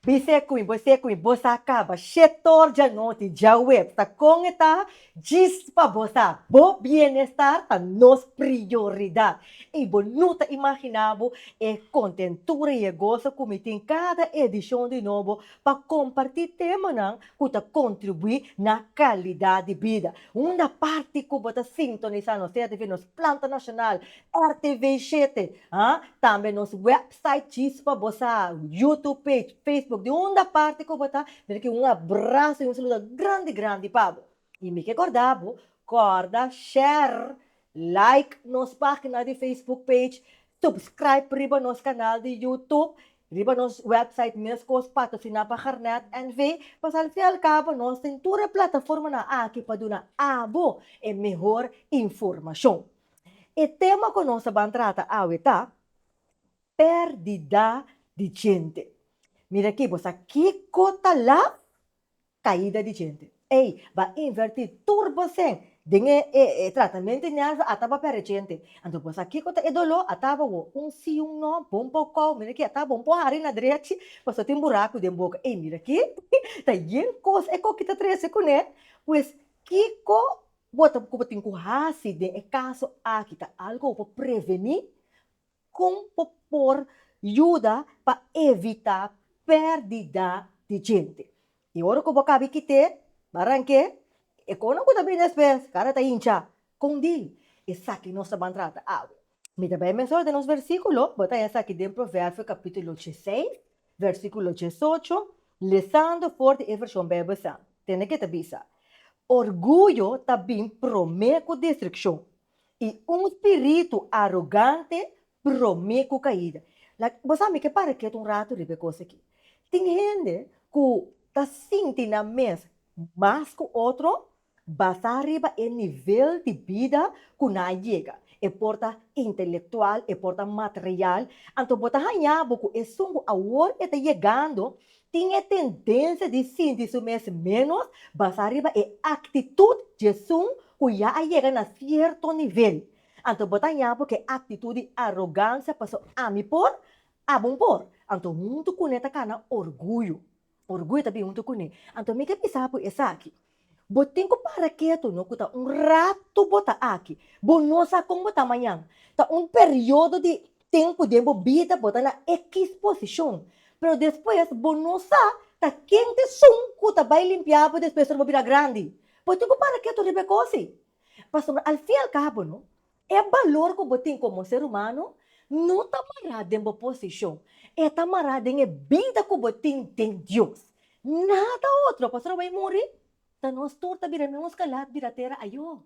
Bise cu mi, bise cu mi, bos a caba shetor djanoti, djaweps ta con e ta, djis pa bos a, bo bienestar ta nos prioridad y bo no ta imagina bo e contentura y e gozo cu mi tin cada edicion di Nobo pa comparti temanan cu ta contribui na calidad di bida. Unda parti cu bo ta sintonisa nos CRTV, nos planta nacional, RTVShete, ha, tambe nos web. Site Chispa bo sa YouTube page Facebook di unda parti ku bo ta mi ta kere un abraso i un saludo grandi grandi pa bo i mi ke korda bo kòrda share like nos pagina di Facebook page subscribe riba nos kanal di YouTube riba nos website meskos patrosiná pa Garnet NV pasobra al fin i al kabo nos tin tur e plataformanan aki pa duna abo e mehor informashon e tema ku nos ta ban trata awe ta. perdida di djente. Mira aki bo sa kiko ta la caida di djente. Ey ba inverti tur bo sen den e e e tratamento neansa a taba perde djente. Anto bo sa kiko ta e dolo a taba wo un si un no bo un por kau mira aki a taba bo un por hari na drechi paso tin buraku den boka ey mira aki ta yen cos e koki ta trece cune pues kiko Bo ta ku bo tin ku hasi den e kaso aki ta algu ku por prevení? Kon bo por yuda pa evitá pèrdida di djente? I ora ku bo kabi kit'é baranke, e konan ku ta bini despues kara ta hinchá. Kon di esaki nos ta ban trata awe? Mi ta bai mester orden nos versíkulo. Bo ta hesa aki den Proverbio kapítulo dieseis, versíkulo diesocho, lesando for di e vershon Beibel sa. Tende ke ta bisa, Orguyo ta bin promé ku destrukshon, i un spiritu arogante promé ku kaida. Like, bo sa mi ke para ketu un ratu riba e kos aki. Tin hende ku ta sinti nan mes mas ku otro Basá riba e nivel di bida ku nan a yega, e por ta intelektual, e por ta material, anto bo ta hañá bo ku esun ku awor e ta yegando tin e tendensia di sinti su mes ménos basá riba e aktitut di esun ku ya a yega na sierto nivel. Anto bo ta hañá bo ku e aktitut di arogansia, pasó ami por, abo N por, anto huntu kuné ta kana orguyo. Orguyo ta bin huntu kuné. Anto mi ke bisa bo esaki. Bo tin ku para ketu no ku ta un ratu bo ta aki. Bo no sa kon bo ta mañan. Ta un periodo di tempu den bo bida bo ta na ekis posishon. Pero despues bo no sa ta ken ta esun ku ta bai limpia bo despues ora bo bira grandi. Bo tin ku para ketu riba e kosi. Pasobra al fin al kabo no E balor ku bo tin komo ser humano no ta mará den bo posishon, e ta mará den e bida ku bo tin den Dios. Nada otro. Pastor Awei muri, ta nos tur ta bira miun skalat bira tera ayó.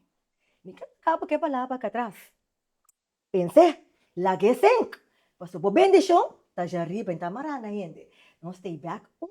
Mi ke ta kaba ku e palabra aka atras. Pens'é, lag'é sink, pasobra bo bendishon ta dja riba i ta mará na hende. Nos stay back un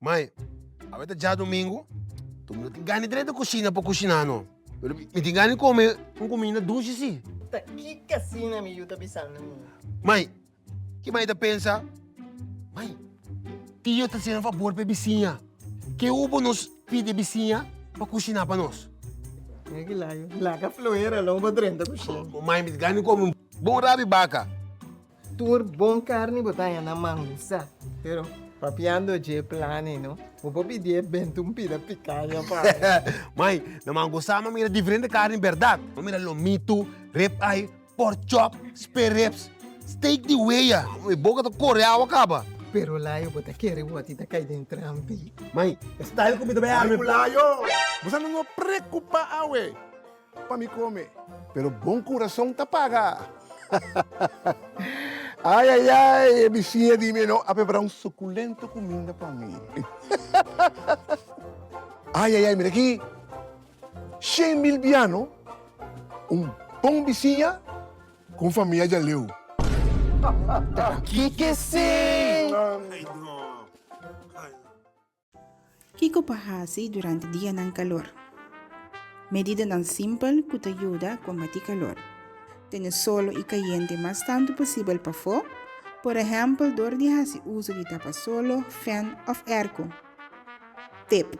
Mai, awe ta djadumingu, tur mi no tin gana di traha di kushina pa kushiná no. Pero mi tin gana di kome un kuminda dushi sí. Ta ki kasina mi yu ta bisando mi? Mai, Ki mai ta pensa, Mai, tio ta hasinan fabor pa e bisiña. Ke hu bo nos pidi e bisiña pa kushiná pa nos? Mira ki laga, laga fluera lo bo drenta kusina. Bo mai miti gana di kome un bon rabi baka. Tur bon karni bo ta haña na mangu sa, pero papiando dje plani no, bo por pidié bèntu un pida pikaña pa mi. Mai, na mangu sa mi a mira diferente karni bèrdat. Mi a mira lomitu, rib eye, Pork chop, spare ribs, steak di wea. Mi boca ta core awa caba. Pero layo bo ta kere woti ta cay den trampi. Mai, e style cu mi ta bay arme cu layo. Bosa no no preocupa awe pa mi come. Pero bon curason ta paga. Ay ay ay, e bichinha di mi e no a prepara un suculento cuminda pa mi. Ay ay ay, mira aki. Shen mil biano, un bon bisiña ku un famia djaleu. Kiko pa hasi durante dianan kalor? Medidanan simpel ku ta yuda kombatí kalor. Tene solo i kayente mas tantu posibel pafó, por ehèmpel dor di hasi uso di tapasolo, fèn òf èrko. Tip.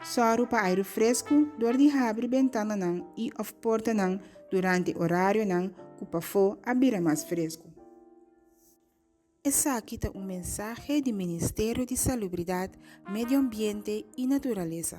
Sòru pa airu fresku dor di habri bentananan i òf portanan durante orarionan ku pafó a bira mas fresku. Esaki ta un mensahe di Ministerio di Salubridat, Medioambiente i Naturalesa.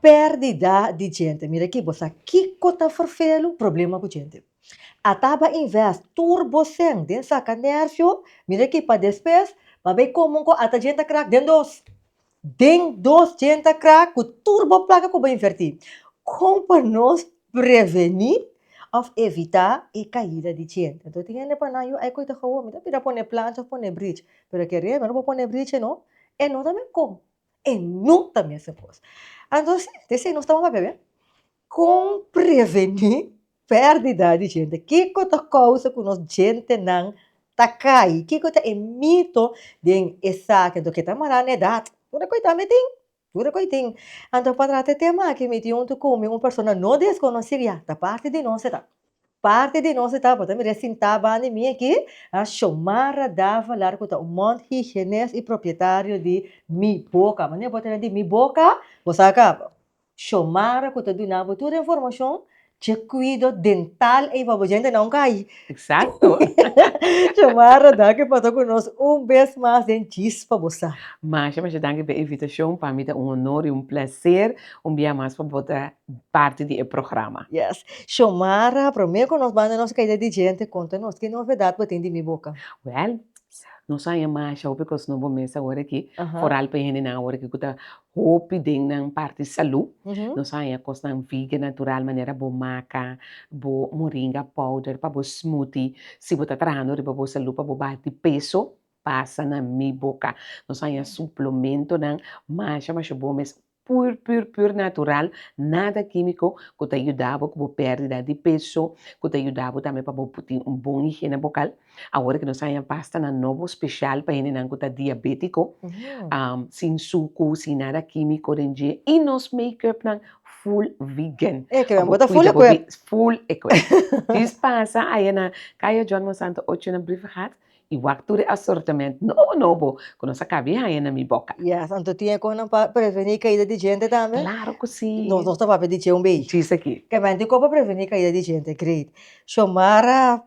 Perdida di djente, mira aki bo sa kiko ta ferfelu? Problema ku djente. A taba invest tur bo sen den saka nerfio, mira aki pa despues pa bay komo ku ata djenta krak den dos, den dos djenta krak ku tur bo plaka ku bo inverti. Kon pa nos preveni of evita e kaida di djente? Anto tin hende pa nan yu ay ku e ta hawo mi ta bira pone plancha of pone bridge, pero aki ariba mi no por pone bridge no, e no ta me kon E no ta mester kos. Anto si, te si nos ta papia be? Kon preveni perdida di djente? Kiko ta kousa ku nos djentenan ta kai? Kiko ta e mito den esaki? Anto ke ta mará na edat? Tur e kos dame tin, tur e kos tin. Anto pa trata e tema aki mi tin un tukume, un persona no deskonosí, ya ta parti di nos e ta. Parti di nos e tabata mira e sintá bandi mi aki, a Xomara Davalar ku ta un mònt higienés i propietario di Mi Boca. Manera bo ta na di Mi Boca, bo sa kaba. Xomara ku ta duna bo tur e informashon dje kuido dental ei pa bo djente na un kai. Eksakto. Xomara danki pa ta ku nos un bes mas den Djis pa bo sa. Masha masha danki pa e invitashon, pa mi ta un honor i un plaser un bia mas pa bo ta parti di e programa. Yes, Xiomara, prome ku nos banda nos kaida di djente, konta nos ki novedat bo tin di mi boka? Wèl, nos a haña masha hopi kos no bo mes awor aki, foral pa e hendenan awor aki ku ta hopi den nan parti salu, nos a haña kosnan vegan natural manera bo maka bo moringa powder pa bo smoothie, si bo ta trahando riba bo salu pa bo baha di peso, pasa na mi boka, nos a haña suplementonan masha masha bon mes Pur pur pur natural, nada kimiko ku ta yuda bo ku bo perdida di peso, ku ta yuda bo tambe pa bo tin un bon higiene bokal. Awor ke nos a haña pasta nan nobo speshal pa hendenan ku ta diabetiko, sin suku, sin nada kimiko den dje, i nos makeup nan full vegan. E keren, bo ta full ekwip. Full ekwip. Dis pasa aya na Kaya John Monsanto ocho na Brievegaard, I wak tur e asortament nobo nobo ku nos a kabe haña na mi boka. Yes, anto tin e kos nan pa prevení kaida di djente tambe? Klaro ku si! No, nos ta papia di dje un beshi. Djis aki. Kèmen tin kon pa prevení kaida di djente? Great! Xiomara,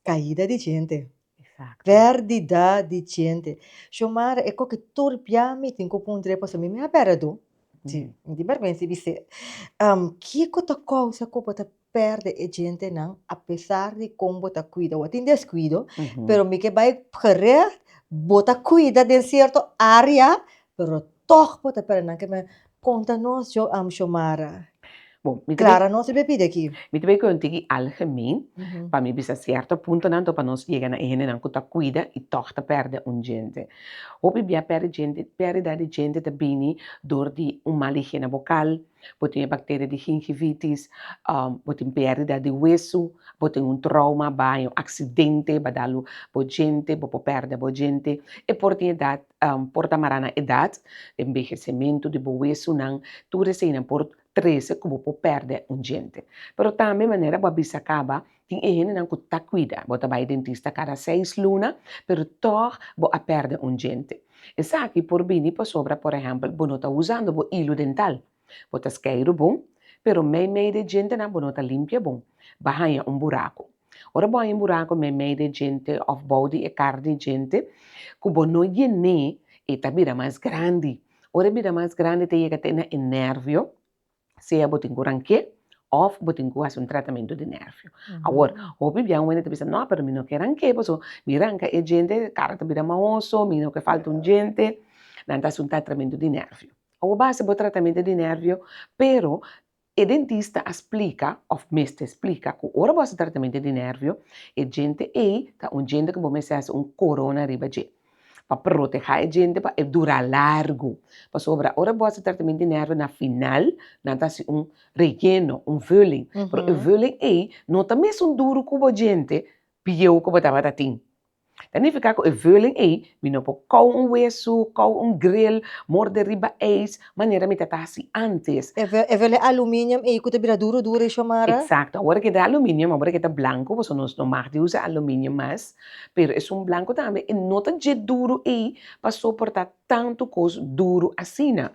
Kaida di djente. Eksakto. Pèrdida di djente. Xiomara, e kos ku tur bia mi tin ku puntra e paso mi, mi a pèrdè tur? Ti, mi tin bèrbensi bis'é. Kiko ta kousa ku bo ta perde e djentenan apesar di kon bo ta kuida. Bo a tin deskuido, pero mi ke bai gerècht, bo ta kuida den sierto área, pero tòg bo ta pèrdè nan ke men. Konta nos Xo, Xiomara, Klara nos ta pidi aki. Mi ta bai ku e un tiki algemen, pa mi bisa sierto puntonan tok pa nos yega na e hendenan ku ta kuida i tòg ta pèrdè un djente. Hopi bia pèrdida di djente ta bini dor di un mal higiene bokal, Bo tin e bacteria di gingivitis, bo tin perdida di hueso, bo tin un trauma, baño, un accidente ba dalo bo djente, bo por perde bo djente, e por tin edad, por ta mara na edad, envejecemento di bo huesonan, tur eseinan por trece cu bo por perde un djente. Pero tambe manera bo a bisa caba, Tin e hendenan ku ta kuida bo ta bai dentista kada seis luna, pero tòg bo a pèrdè un diente. Esaki por bini pasobra, por ehèmpel, bo no ta usando bo ilu dental, bo ta skeiru bon, pero meimei dje dientenan bo no ta limpia bon, ba haña un buraku. Ora bo haña un buraku meimei dje diente òf bou di e kar di diente ku bo no yen'é, e ta bira mas grandi. Ora e bira mas grandi, e ta yega te na e nèrvio, sea bo tin ku ranke òf bo tin ku hasi un tratamentu di nervio. Awor, hopi bia un hende ta bisa, no, pero mi no ke ranke paso mi ranka e djente, e kara ta bira mahoso, mi no ke falta un djente, nan ta hasi un tatramentu di nervio. Awor bo a hasi bo tratamente di nervio, pero e dentista a splika òf mester splika ku ora bo hasi tratamente di nervio, e djente ei ta un djente ku bo mester hasi un korona riba dje. pa protehá e djente pa e dura largu, pasobra ora bo hasi tratamen di nèrve na final nan ta hasi un relleno, un vulling, pero e vulling ei no ta mesun duru ku bo djente bieu ku bo tabata tin, ta nifiká ku e vulling ei mi no por kòu un wesu, kòu un grill, morde riba eis manera mi ta ta hasi ántes. E vulling aluminium ei ku ta bira duru duru ei Shomara? Eksakto, awor ket ta aluminium, awor ket ta blanku, pasobra nos no mag di usa aluminium mas, Pero es un blanco tambe e no ta dje duro ey pa soporta tanto cos duro asina.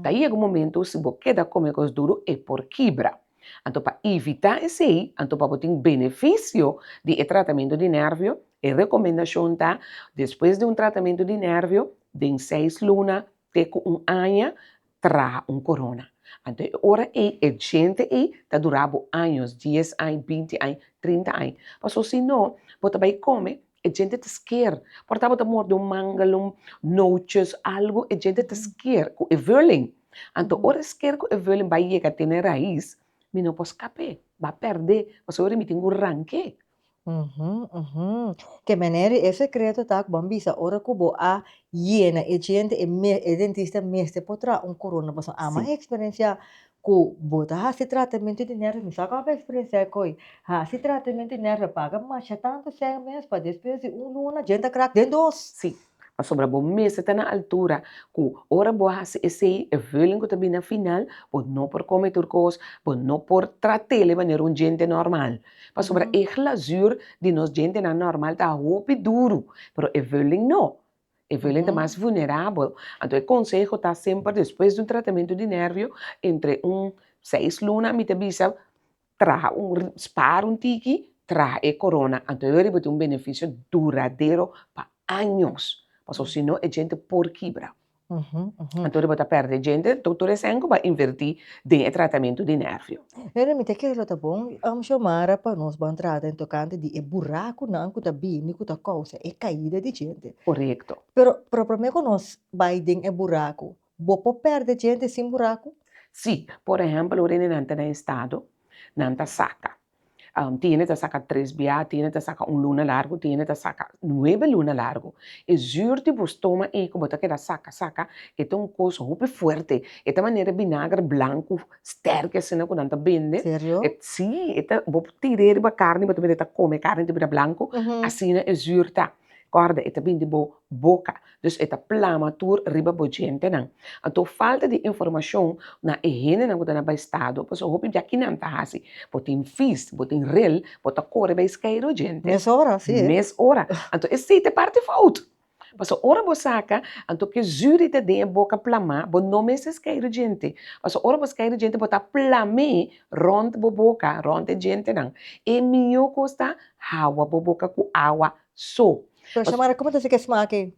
Ta yega un momento si bo keda come cos duro e por kibra. Anto pa evita esey, anto pa bo tin beneficio di e tratamento di nervio, e recomendacion ta, despues di un tratamento di nervio, den seis luna te cu un aña, traha un corona. Anto e ora ey e djente ey ta dura bo años, dies aña, binti aña, trinta aña. Paso si no, bo ta bay come, e djente ta skeer. Por ta bo ta morde un mangalon, noches, algo, e djente ta skeer cu e vulling. Anto ora e skeer cu e vulling bay yega tene raiz, mi no por scapé, ba perdé, pasobra mi tin cu ranqué. Uhu, uhu. Ke manera di e sekreto ta ku ban bisa ora ku bo a yena e djente e me e dentista mester por traha un korona pasobra a man a eksperensiá ku bo ta hasi tratamentu di nèrvio mi sa kua bo a eksperensiá e koi hasi tratamentu di nèrvio a paga masha tantu sèn mes pa despues di un luna djente a krak den dos. Si Pasobra bo mester ta na altura ku ora bo a hasi esei, e veulen ku ta bini na final, bo no por kome tur kos, bo no por tra tele manera un djente nòrmal. Pasobra e glazur di nos djentenan nòrmal ta hopi duru, pero e veulen no, e veulen ta mas vulnerabel. Anto e konseho ta semper despues di un tratamentu di nèrbio, entre un seis luna mi ta bisa Traha un spara un tiki, traha e corona, anto e riba tin un beneficio duradero pa años, pasobra si no e djente por kibra, anto riba ta perde djente, anto tur esei cu ba inverti den e tratamento di nervio. Pero mi ta kere lo ta bon um Xiomara pa nos ban trata en tocante di e buracunan cu ta bini cu ta causa e caida di djente. Corecto. Pero proprome cu nos bay den e buracu Bo por perde djente sin buraku? Sí, por ehempel ora ene nan ta na estado nan ta saka tiene ta saka tres biaha, tiene ta saka un luna largo, tiene ta saka nuebe luna largo e zuur di bo stoma ei ku bo ta keda saka saka e ta un kos hopi fuerte e ta manera binager blanku sterk asina ku nan ta bende, sí bo tira e riba karni bo ta mira e ta kome karni ta bira blanku asina e zuur ta. Kòrda, e ta bini di bo boka, dus e ta plama tur riba bo djentenan. Anto falta di informashon na e hendenan ku ta na baestado, pasobra hopi biakinan ta hasi, bo tin fis, bo tin rel, bo ta kore bai skairo djente. Mes ora, sí. Mes ora. Anto esei ta e parti fout. Pasobra ora bo saka, anto ke zü di ta den e boka plamá, bo no mester skairo djente. Pasobra ora bo skairo djente, bo ta plam'é Rònt bo boka, rònt e djentenan. E mihó kos ta, hawa bo boka ku awa so. Bo ta mara, Kuma ta si ke sma akí?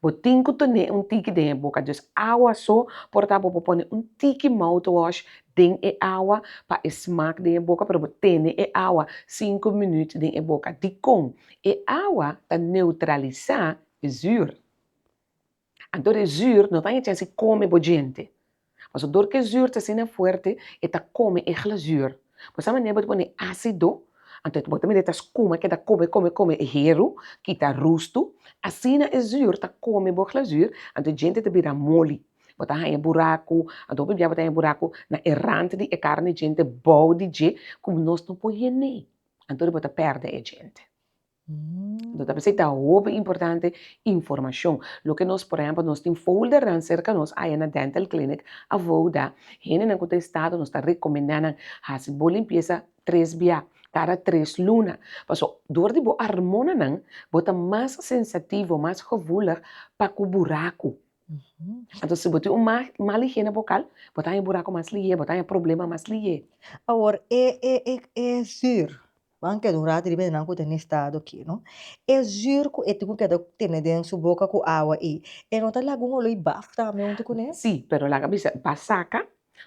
Bo tin ku tene un tiki den e boka, dus awa so. Por ta bo por pone un tiki mouthwash den e awa pa e smak den e boka, pero bo tene e awa sinku minüt den e boka. Dikon? E awa ta neutralisá e zür. Anto e zür no ta echa si kome bo djente. Paso dor ku e zür ta asina fuerte, e ta kome e glazür. Bo sa manera bo ta pone asido, anto bo ta mira e ta skuma ke ta kome kome kome e heru, kita rustu. Asina e zür ta kome bo glazür, anto e djente ta bira moli. Bo ta haña buraku, anto bo pipia bo ta haña buraku na e rant di e karne di djente bou di dje ku nos no por hien nee. Anto bo ta pèrdè e djente. Nos ta bisa e ta hopi importante informashon. Loke nos, por ehempel, nos tin foldernan serka nos aya na dental clinic avou da hendenan ku ta estado nos ta rekomendá nan hasi bo limpiesa tres bia kada tres luna. Paso dor di bo armonanan bo ta mas sensativo, mas gevoelig pa ku buraku. Anto si bo tin un mal higiene bokal bo ta haña buraku mas lihé, bo ta haña problema mas lihé. Awor e e e e zür Ban keda un rato riba e nan ku ta na e stado aki, no? E zür ku e tin ku keda tene den su boka ku awa ei, e no ta laga un oloi baf tambe huntu kuné? Sí, pero laga bisa, bo a saka,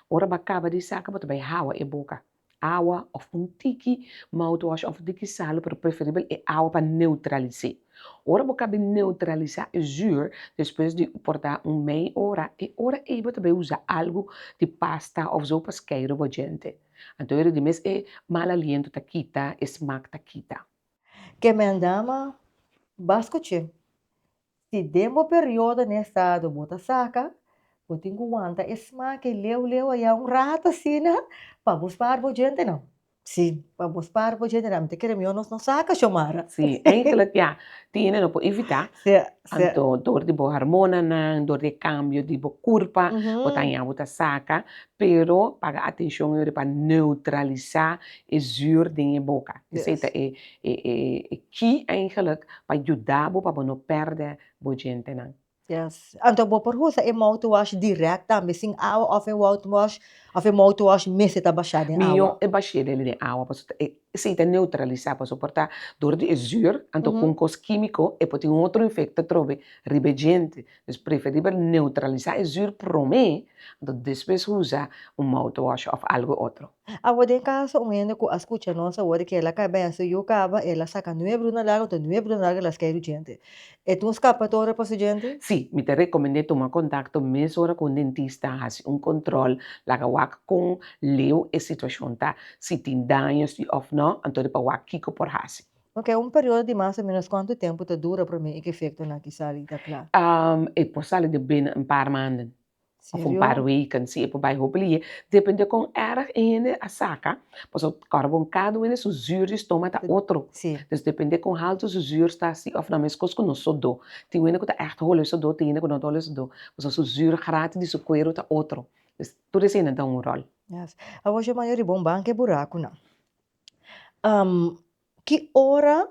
ora bo a kaba di saka bo ta bai hawa e boka. Awa òf un tiki mouthwash òf un tiki sal, pero preferibel e awa pa neutralis'é. Ora bo kabe neutralisá e zür, despues di por ta un mei ora, e ora ei bo ta bai usa algu di pasta òf zo pa skei riba bo djente. Anto e redi mes e mal aliento ta kita, e smak ta kita. Ke men dama, Ba skuch'é. Si den bo periodo n'e estado bo ta saka, bo tin ku wanta e smak e leu leu aya un rato asina pa bo spar bo djentenan. Sí, pa bo spar bo djentenan. Mi ta kere mió no saka, Xiomara. Sí, enkel a tiene no por evitá. Sí. Anto dor di bo harmonanan, dor di e kambio di bo kurpa, bo ta haña bo ta saka, pero paga atenshon yori pa neutralisá e zür den e boka. Esei ta e e key eigenlijk pa yuda bo pa bo no pèrdè bo djentenan. Yes. Anto bo por usa e mouthwash dirèk tambe, sin awa òf e wouthwash òf e mouthwash mester ta bashá den awa? Mihó e bash'é den awa pasobra e Esei ta neutralisá pasobra por ta dor di e zùr, anto ku un kos kímiko e por tin un otro efekto atrobe riba e djente. Dus preferibel neutralisá e zùr promé, anto despues usa un mouthwash òf algu otro. Awor den kaso un hende ku a skucha nos awor di ke el a kai bènsiu yu kaba, el a saka nueve runa largu, anto nueve runa largu el a skei e djente. E ta un skapatora pa su djente? Sí, mi ta rekomend'é tuma kontakto mesora ku un dentista, hasi un kontròl, laga wak kon leu e situashon ta, si tin daño si òf nò, anto di pa wak kiko por hasi. Oke, un periodo di mas o ménos kòntu tempu ta dura promé i ku efektonan aki sali ta kla? E por sali den bini un par manden. Of un par weken, si e por bai hopi lihé. Dependé kon èrg e hende a saka, pasobra ta kòrda bon kada un hende su zuur di stoma ta otro. Dus dependé kon haltu su zuur ta, si òf nan meskos ku nos sodó. Tin un hende ku ta ègt holo e sodó, tin hende ku no ta holo e sodó, pasobra su zuur grati di su kueru ta otro. Dus, tur esei nan ta un ròl. Yes. Awor Jomayo riba un banke burakunan, ki ora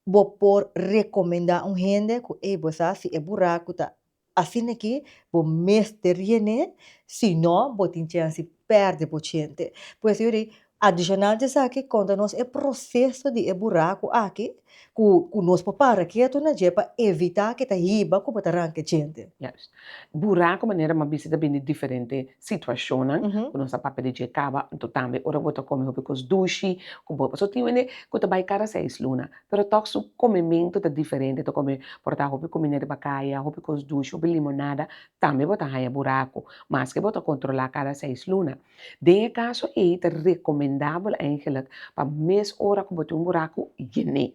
bo por rekomendá un hende ku ey bo sa si e buraku ta asina aki bo mester rien'é si no bo tin chèns di pèrdè bo chente pues yo di adishonal di esaki konta nos e proseso di e buraku aki ku ku nos por para ketu na dje pa evitá ku e ta hiba ku bo ta ranka e chente. Buraku manera m'ha bisti ta bini diferente situacionnan cu nos a papia di dje caba, anto tambe ora bo ta come hopi cos dushi cu bo paso tin wende cu ta bay cada seis luna pero tok su comemento ta diferente ta come por ta hopi comida riba caya hopi cos dushi hopi limonada tambe bo ta haya buraco maske bo ta controla cada seis luna den e caso ey ta recomendabel eigenlic pa mes ora cu bo tin un buraco yene.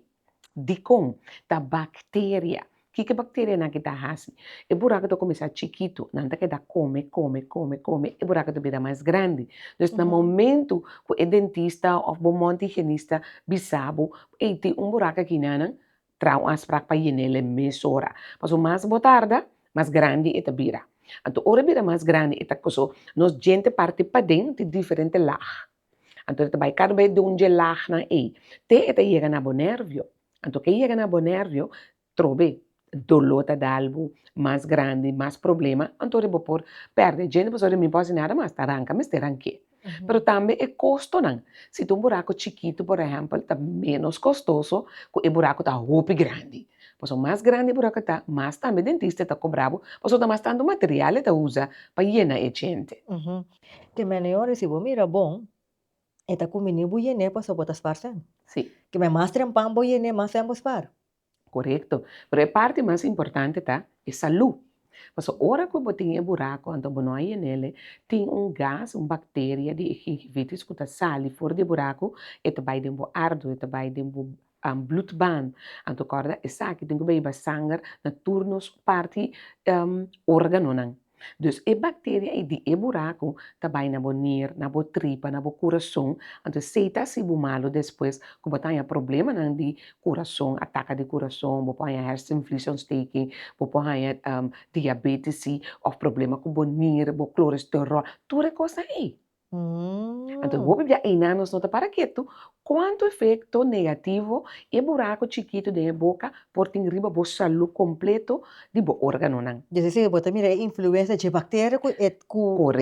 Dikon ta bacteria? Kiko e bacterianan ke ta hasi? E buraku ta kuminsá chikitu, nan ta keda kome, kome, kome, kome, e buraku ta bira mas grandi. Pues na momentu ku e dentista òf bo mouth higienista bisa bo, ei, tin un buraku aki nan nan, traha un asprak pa yen'é el e mesora, pasobra mas bo tarda, mas grandi e ta bira. Anto ora e bira mas grandi e ta koso nos djente parti paden tin diferente laag. Anto e ta bai kada bes dun dje lagnan ei, te e ta yega na bo nervio. Anto ke yega na bo nervio, trobe doló ta dal bo mas grandi, mas problema, anto bo por pèrdè djente pasobra mi no por hasi nada mas, ta ranka mester ranke. Pero tambe e kostonan, si ta un buraku chikitu por ehèmpel ta ménos kostoso ku e buraku ta hopi grandi, pasobra mas grandi e buraku ta, mas tambe dentista ta kobra bo, pasobra ta mas tantu material e ta usa pa yena e djente. Te mene yore si bo mira bon e ta kumini bu yene paso bo ta spar sèn. Sí. Keme mas trempan bo yene mas sèn bo spar. Korekto. Pero e parti mas importante ta e salú. Paso ora ku bo tin e burako anto bo no a yenel e, tin un gas, un bakteria di e gingivitis ku ta sali for di e burako, e ta bai den bo ardo, e ta bai den bo An bloedbaan, anto kòrda esaki tin ku bai ba sanger na tur nos parti organonan. Dus e bakteria ei di e buraku ta bai na bo nier, na bo tripa, na bo kurason, anto esei ta hasi bo malu despues ku bo ta haña problemanan di kurason, ataka di kurason, bo por haña hersenvliesontsteking, bo por haña diabetisi òf problema ku bo nier, bo kloresterol, tur e kosnan ei. Anto hopi bia eina nos no ta para ketu kuantu efekto negativo e buraku chikitu den e boka por tin riba bo salu kompletu di bo organonan. Di ese bo ta mira e influensia dje bakteria ku e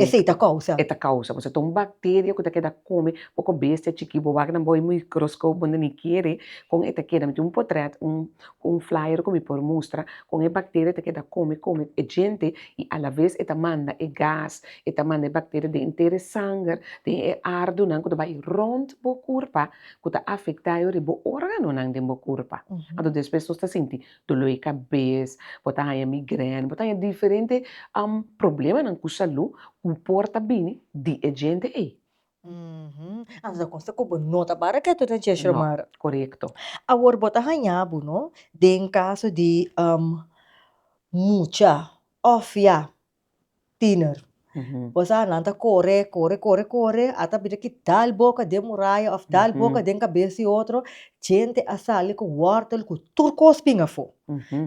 esei ta kousa. E ta kousa, pasobra ta un bakteria ku ta keda kome oko bestia chikí, bo wak nan bo e mikroskop bo no ni kere kon e ta keda, mi tin un potrèt, un flyer ku mi por mustra kon e bakteria ta keda kome kome e djente i alaves e ta manda e gas E ta manda e bakteria den henter e sanger, den e ardunan ku ta bai rònt bo kurpa, ku ta afektá yoris bo órganonan den bo kurpa. Anto despues nos ta sinti doló di kabes, bo ta haña migrèna, bo ta haña diferente problemanan ku salú ku por ta bini di e djente ei. Anto ta konsta ku bo no ta para ketu den chèch romar. No, korekto. Awor bo ta haña bo no den kaso di mucha òf ya tiener pues a nan ta kore kore kore kore ata bira ki dal boka den muraya of dal boka den kabes di otro djente a sali ku wòrtel ku tur kos bin afó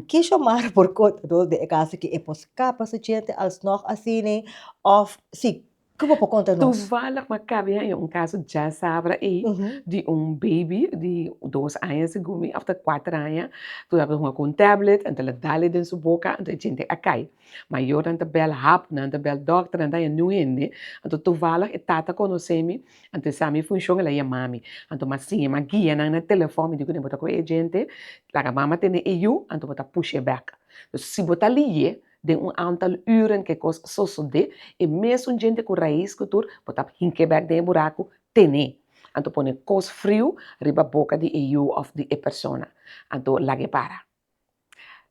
ki Xiomara por konta nos den e kas aki e por skapa su djente alsnòg asina of si Ke bo por konta nos? Toevallig ma kabia e un kaso dja sabra ei di un baby di dos aña segun mi of ta kuater aña tur a hunga ku un tablet en ta la dale den su boka enton e djente a kai mayornan ta bel hap nan ta bel dokter nan ta haña niun hende enton toevallig e tata konosé mi enton e sa mi funshon el a yama mi enton mi a siña mi a guia nan na telefòn mi di kune bo ta ku e djente laga mama tene e yu enton bo ta push'é bèk si bo ta liy'é Den un antal uren ke kos sosodé, e mesun djente ku rais ku tur bo ta hink'é bèk den e buraku, ten'é. Anto pone kos friu riba boka di e yu òf di e persona. Anto lag'é para.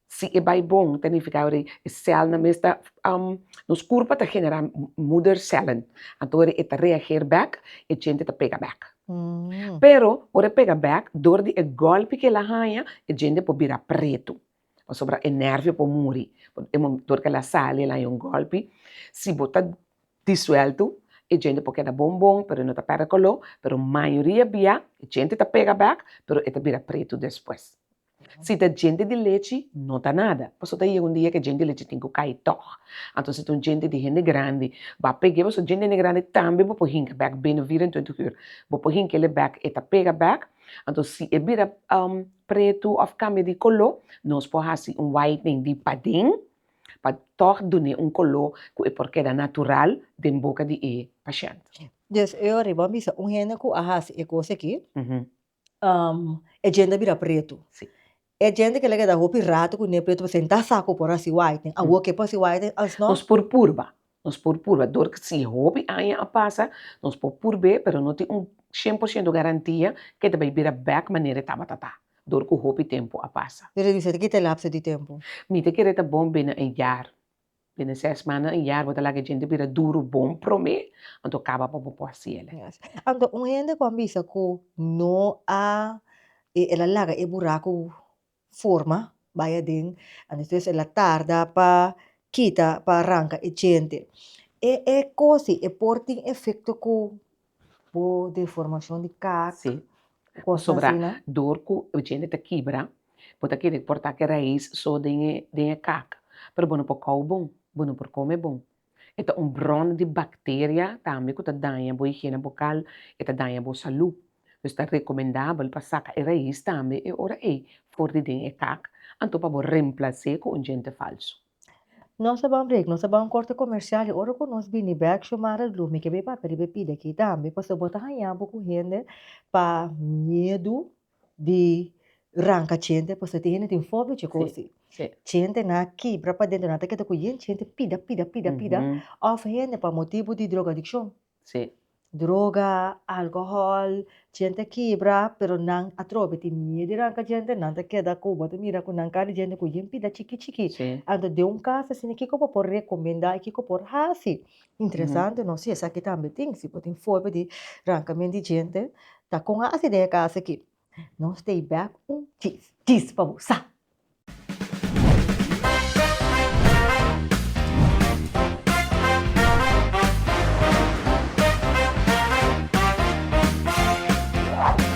Si e bai bon ta nifiká wòrdu e sèlnan mes ta nos kurpa ta generá moedercellen. Anto wòrdu e ta reageer bèk, e djente ta pega bèk. Pero, ora e pega bèk, dor di e gòlpi kela haña, e djente por bira pretu. pasobra e nervio por muri, e motor kel a sali el a haña un gòlpi, si bo ta disuelto e djente por keda bon bon pero e no ta pèrdè koló, pero mayoria bia e djente ta pega bèk pero e ta bira pretu despues. Si ta djente di lechi no ta nada, paso ta yega un dia ku e djente di lechi tin ku kai tòg, anto si ta un djente di hende grandi ba peg'é paso djente di hende grandi tambe bo por hinka bèk bini veinticuatro ur, bo por hink'el e bèk e ta pega bèk, anto si e bira pretu of cambia di color nos por haci un whitening di paden pa toch dun'e un color cu e por keda natural den boca di e paciente. Yes e ora bo a bisa un hende cu a haci e cos aki e djente a bira pretu e djente que la keda hopi rato cu ne'e pretu pasobra n'ta sa cu por haci whitening awo ke por haci whitening alsnog nos por purba Nos por purba, dor si hopi aña a pasa, nos por purb'é pero no tin un shen por shento garantia k'e ta bai bira bèk manera e tabata ta, dor ku hopi tempu a pasa. Redusá ta kita e lapso di tempu? Mi ta kere ta bon binnen un yar. Binnen sès manda, un yar bo ta laga e djente bira duru bon promé, anto kaba pa bo por hasi el. Anto un hende ku a bisa ku no a, el a laga e buraku forma bay aden and despues el a tarda pa kita pa aranca e djente e e cosi e por tin efecto cu bo deformacion di caak si cosnan asina pasobra dor cu e djente ta kibra bo ta kere corta ki rais so den e den e caak pero bo no por cau bon bo no por come bon. E ta un bron di bacteria tambe cu ta daña bo higiene bocal, e ta daña bo salud. Dus ta recomendabel pa saca e rais tambe e ora ey for di den e kak, anto pa bo remplacé cu un djente falso. Nos ta ban break, nos ta ban un corte comercial y ora cu nos bini bek Xiomara Dlu mi ke bay papia riba e pidi aki tambe, pasobra bo ta haña bo cu hende pa miedu di ranca chente pues ta tin hende tin fobia cu e cos si chente na kibra pa dentro na ta keda cu yen chente pida pida pida pida of hende pa motibo di drogadiccion droga alcohol chente a kibra pero nan atrobe tin miedo di ranca chente nan ta keda cu bo ta mira cu nan kaba di chente cu yen pida chiki chiki anto den un cas asina kico bo por recomenda y kico bo por haci Interesante no si esaki tambe tin si bo tin forma di ranka men di djente ta kon a hasi den e kasa aki no stay back un kis kis pa bo sa.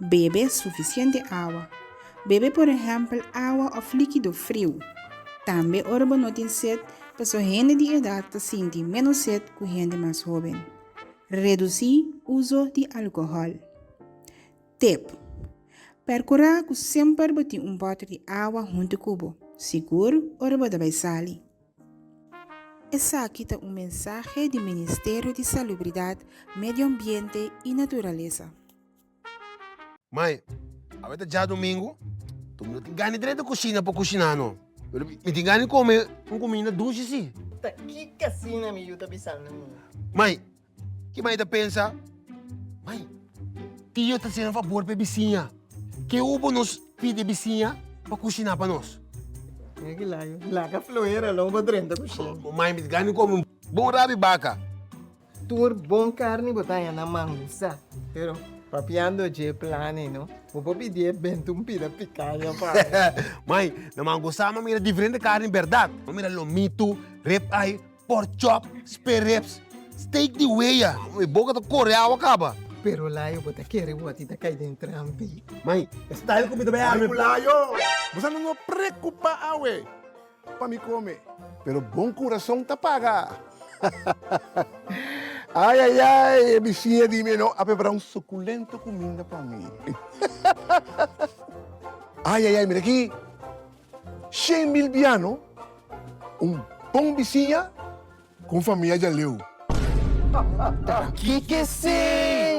Bebe sufisiente awa. Bebe por ehèmpel awa òf líkido friu. Tambe ora bo no tin set, pasobra hende di edat ta sinti ménos set ku hende mas hóben. Redusí uso di alkohòl. Tip, Perkurá ku semper bo tin un bòter di awa huntu ku bo, sigur ora bo ta bai sali. Esaki ta un mensahe di Ministerio di Salubridat, Medioambiente i Naturalesa. Mai, awe ta djadumingu, mi no tin gana di dret di kushina pa kushiná no, pero mi tin gana di kome un kuminda dushi sí. Ta kiko asina mi yu ta bisando mi? Mai, ki mai ta pensa, Mai, tio ta hasinan fabor pa e bisiña, ke hu bo nos pidi e bisiña pa kushiná pa nos? Mira ki laga, laga floera lo bo drenta kusina. Mai, mi tin gana di kome un bon rabi baka. Tur bon carni bo ta haña na mangusa, pero papiando dje plane no, bo por pidié benta un pida picaña pa mi. Mai, na mangusa mi a mira diferente carni berdad, mi a mira lomito, rib eye, pork chop, spare ribs, steak di wea, mi boca ta core awa caba. Pero layo bo ta kere word y ta cay den trampi. Mai, e style cu mi ta bay arma e plan. Mai cu layo, bo sa no nos preocupa awe. pa mi come, pero bon curason ta paga. Ay ay ay, e biciña di mi no a prepara un suculento cuminda pa mi. Ay ay ay, mira aki, shen mil biano, un bon biciña cu un famia djaleu. Ta kikesey.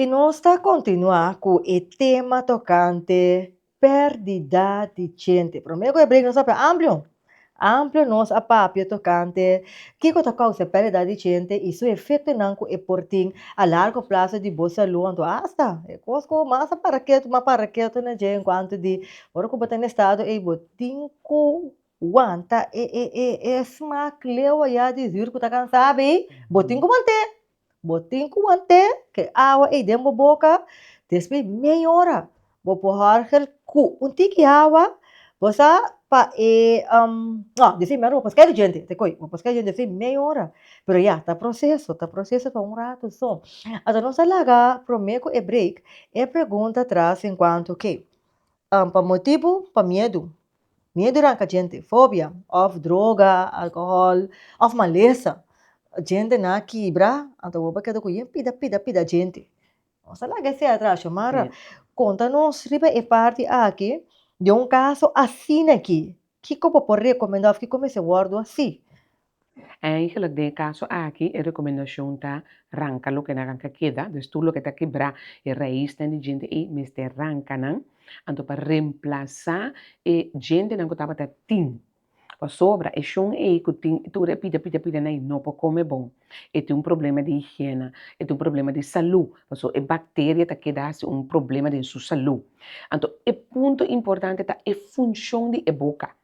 I nos ta kontinuá ku e tema tokante pèrdida di djente. Promé ku e brek nos a papia amplio, amplio nos a papia tokante kiko ta kousa pèrdida di djente i su efektonan ku e por tin a largo plaso di bo salú anto asta e kos ku mas a para ketu mas a para ketu na dje enkuanto di ora ku bo ta na estado ei bo tin ku Wanta e e e e smak lewa ya di zür ku ta kansá abei, bo tin ku want'é. Bo tin ku want'é k'e awa ei den bo boka, despues mei ora bo por hòrgel ku un tiki awa, bo sa pa e nò di fin mèr bo por skei di djente, te koi? Bo por skei di djente fin mei ora, pero ya ta proseso, ta proseso pa un ratu so. Anto nos a laga promé ku e break, e pregunta tras enkuanto ke pa motibu pa miedu, Miedunan ka djente, fobia, òf droga, alkohòl, òf malesa. Djentenan a kibra, anto awor bo a keda ku yen pida, pida, pida djente. Nos ta laga esei atras, Xiomara. Konta nos riba e parti aki den un kaso asina aki. Kiko bo por rekomendá òf kiko mester wòrdu asi? Eigenlijk den e kaso aki e rekomendashon ta, ranka loke na ranka keda, dus tur loke ta kebrá e raisnan di djente ei mester ranka nan, anto pa remplasá e djentenan ku tabata tin, pasobra e shon ei ku tin tur e pida pida pidanan ei no por kome bon, e tin un problema di higiena, e tin un problema di salú, paso e bakteria ta keda hasi un problema den su salú. Anto e punto importante ta e funshon di e boka,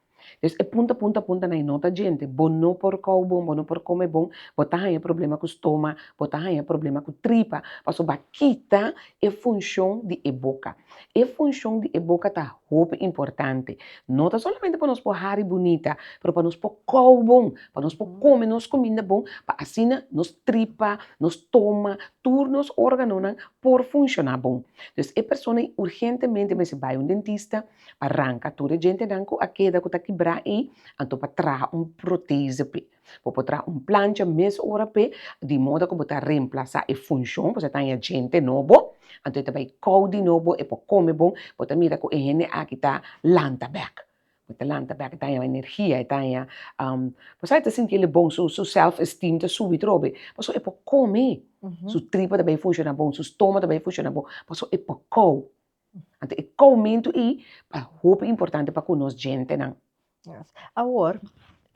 Des e punta punta punta na e nota djente, bo no por kou bon, bo no por kome bon, bo ta haña problema ku stoma, bo ta haña problema ku tripa, pasobra bo a kita e funshon di e boka. E funshon di e boka ta hopi importante, no ta solamente pa nos por hari bunita, pero pa nos por kou bon, pa nos por kome nos kuminda bon, pa asina nos tripa, nos stoma, tur nos organonan por funshoná bon. Des e persona urgentemente mester bai un dentista, pa ranka tur e djentenan ku a keda ku ta kibrá i anto pa traha un protese p'e. Bo por traha un plancha mes ora p'e di moda ku bo ta remplasá e funshon, pasobra e ta haña djente nobo, anto e ta bai kou di nobo, e por kome bon, bo ta mira ku e hende aki ta lanta bèk, bo ta lanta bèk, e ta haña energia, e ta haña bo sa e ta sinti el e bon, su su sèlf esteem ta subi trobe, pasobra e por kome, su tripa ta bai funshoná bon, su stomak ta bai funshoná bon, pasobra e por kou, Anto e koumentu i ta hopi importante pa ku nos djentenan. Awor,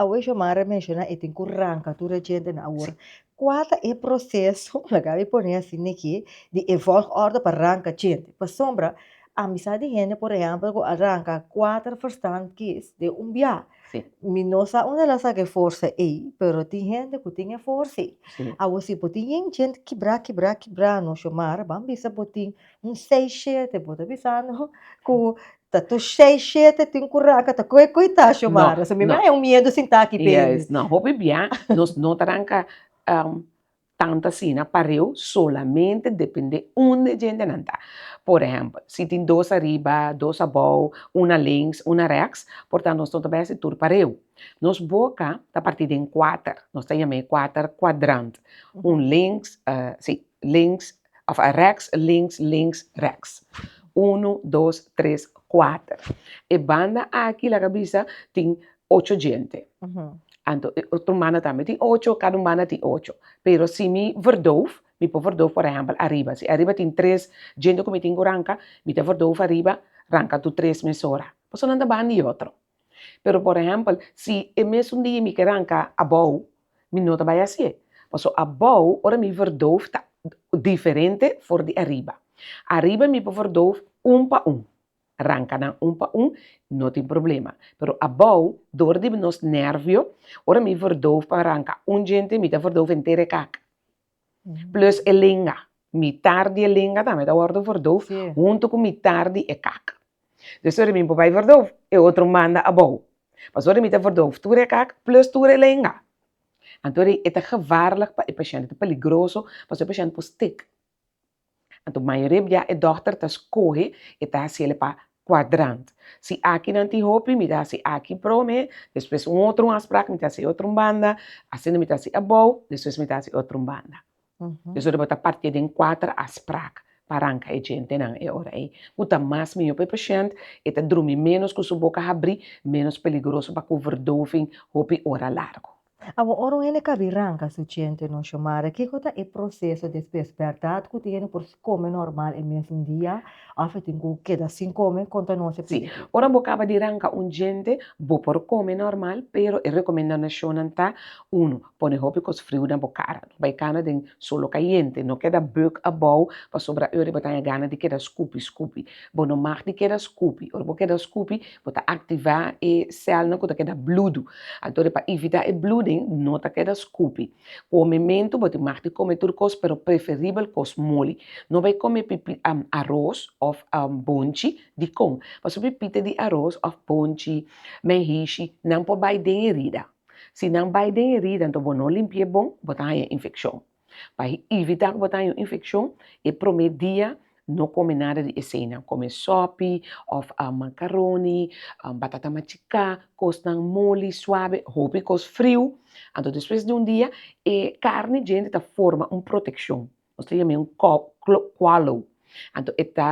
awe Xiomara menshona e tin ku ranka tur e djentenan awor, kua ta e proseso, la Gaby pone asin neki, di e vòlgòrdu pa ranka djente? Pasobra amisá di hende por ehèmpel ku a ranka kuater verstand kis den un biaha. Mi no sa unda el a saka e forsa ei, pero tin hende ku tin e forsa ei. Awor si bo tin yen djente kibrá, kibrá, kibrá no, Xiomara, ban bisa bo tin Un seis shete bo ta bisando ku ta tur seis shete tin ku ranka ta koe koe ta Xiomara so mi me un miedu sinta aki pe yes na hopi bia nos no ta ranka tantu asina pareu solamente depende un de djente nan ta por ehempel si tin dos ariba dos abou una links una reks por tanto nos no ta besi tur pareu nos boka ta parti den kuater nos ta yam'e kuater kuadrant un links si links òf a rèks, links, links, rèks. Unu, dos, tres, kuater. E banda aki laga bisa tin ocho djente. Anto e otro banda tambe tin ocho, kada un banda tin ocho. Pero si mi verdoof, mi por verdoof por ehèmpel ariba. Si ariba tin tres djente ku mi tin ku ranka, mi ta verdoof ariba, ranka tur tres mesora. Pasobra nan ta banda i otro. Pero por ehempel si e mesun dia mi ker anka abou mi no ta bai hasi'e paso abou ora mi verdof ta diferente for di ariba, ariba mi por verdof un pa un ranka nan un pa un no tin problema pero abou dor di nos nervio ora mi verdof pa ranka un djente mi ta verdof enter e kaka. plus e lenga, mitar di e lenga tambe ta wòrdu verduf huntu ku mitar di e kak. Entonces ora mi por bai verduf, e otro manda abou. Pasobra ora mi ta verduf tur e kak plus tur e lenga, anto e ta gevarlig pa e pashènt, e ta peligroso pasobra e pashènt por stik. Anto mayoria bia e dòkter ta skohe e ta hasiel e pa kwadrant. Si akinan tin hopi mi ta hasi aki prome, despues un otro mas prak mi ta hasi otro banda, asina mi ta hasi abou, despues mi ta hasi otro banda. Esor bo ta partié den kuater as prak pa ranka e djentenan e ora ei. Ku ta mas mihó pa e pashènt, e ta drumi ménos ku su boka habrí, ménos peligroso pa ku verdoving hopi ora largu. Awa ora un hende kabí ranka su ciente no shomare, kiko ta e proseso despues? Berdad ku tin hende por kome normal e mesun dia òf e tin ku keda sin kome? Konta nos e Si, pelíkula. ora bo kaba di ranka un ciente, bo por kome normal, pero e rekomendadashonnan ta, Unu, pone hopi kos friu na bo kara. No bai kana den solo kayente. No keda buk abou, pasobra ora i bo ta haña gana di keda skupi skupi. Bo no mag di keda skupi. Ora bo keda skupi, bo ta aktivá e sèlnan ku ta keda bludu. Anto pa ivitá e bluding, no ta keda skupi. Kome mentu, bo tin mag di kome tur kos pero preferibel kos moli. No bai kome pipí, aros òf bonchi di kon. Pasobra pipita di aros òf bonchi, menhishi, nan por bai den herida. Si nan bai den herida, anto bo no limpi'é bon, bo ta haña infekshon. Pa ivitá ku bo ta haña infekshon, e promé dia no kome nada di eseinan, kome sòpi òf makaroni, batata machiká, kosnan moli, suabe, hopi kos friu. Anto despues di un dia e karni djenti ta forma un protekshon, nos ta yam'é un kòlo, anto e ta